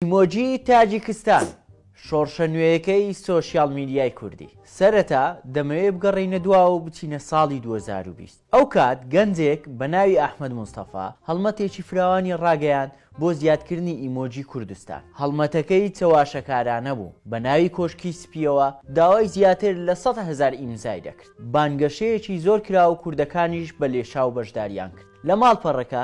ئیمۆجی تاجیکستان شۆڕشە نوێیەکەی سۆشیاڵ میدیای کوردی. سەرەتا دەمەوێ بگەڕێینە دواوە و بچینە ساڵی دوو هەزار و بیست. ئەو کات گەنجێک بە ناوی ئەحمەد مستەفا هەڵمەتێکی فراوانی ڕاگەیاند بۆ زیادکردنی ئیمۆجی کوردستان. هەڵمەتەکەی چەواشەکارانە بوو، بە ناوی کۆشکی سپییەوە داوای زیاتر لە سەد هەزار ئیمزای دەکرد. بانگەشەیەکی زۆر کرا و کوردەکانیش بە لێشاو بەشداریان کرد. لە ماڵپەڕەکە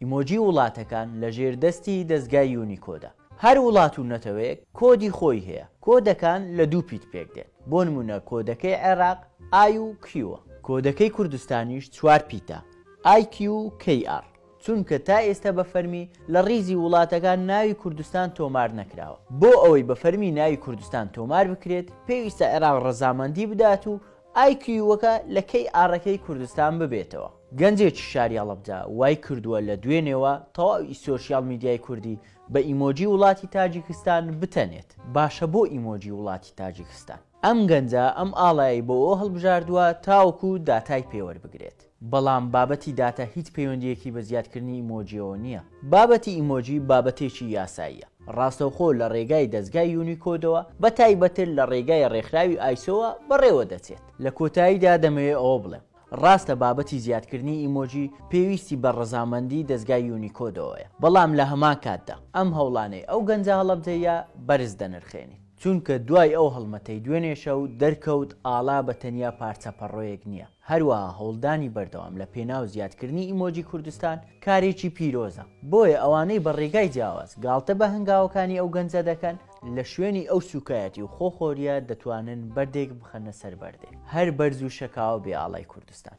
ئیمۆجی وڵاتەکان لە ژێر دەستی دەزگای یونیکۆدە. هەر وڵات و نەتەوەیەک کۆدی خۆی هەیە. کۆدەکان لە دوو پیت پێک دێن. بۆ نموونە کۆدەکەی عێراق ئای و کیوە. کۆدەکەی کوردستانیش چوار پیتە، ئای کیو و کەی ئاڕ. چونکە تا ئێستا بە فەرمی لە ڕیزی وڵاتەکان ناوی کوردستان تۆمار نەکراوە. بۆ ئەوەی بە فەرمی ناوی کوردستان تۆمار بکرێت، پێویستە عێراق ڕەزامەندی بدات و ئای کیووەکە لە کەی ئاڕەکەی کوردستان ببێتەوە. گەنجێکی شاری هەڵەبجە وای کردووە لە دوێنێوە تەواو ی سۆشیال میدیای کوردی بە ئیمۆجی وڵاتی تاجیکستان بتەنێت، باشە بۆ ئیمۆجی وڵاتی تاجیکستان؟ ئەم گەنجە ئەم ئاڵایەی بۆ هەڵبژاردووە تاوەکو داتای پێ وەربگرێت. بەڵام بابەتی داتا هیچ پەیوەندییەکی بە زیادکردنی ئیمۆجییەوە نییە. بابەتی ئیمۆجی بابەتێکی یاساییە، ڕاستەوخۆ لە ڕێگای دەزگای یونیکۆدەوە، بە تایبەتتر لە ڕێگای ڕێکخراوی ئایسۆوە بەڕێوە دەچێت. لە کۆتاییدا دەمەوێت ئەوە بڵێم، ڕاستە بابەتی زیادکردنی ئیمۆجی پێویستی بە ڕەزامەندی دەزگای یونیکۆدەوەیە، بەڵام لە هەمان کاتدا ئەم هەوڵانەی ئەو گەنجە هەڵەبجەییە بەرز دەنرخێنین. چونکە دوای ئەو هەڵمەتەی دوێنێ شەو دەرکەوت ئاڵا بە تەنیا پارچە پەڕۆیەک نییە، هەروەها هەوڵدانی بەردەوام لە پێناو زیادکردنی ئیمۆجی کوردستان کارێکی پیرۆزە، بۆیە ئەوانەی بە ڕێگای جیاواز گاڵتە بە هەنگاوەکانی ئەو گەنجە دەکەن، لە شوێنی ئەو سووکایەتی و خۆخۆرییە دەتوانن بەردێک بخەنە سەر بەردێ، هەر بەرز و شەکاوە بێ ئاڵای کوردستان.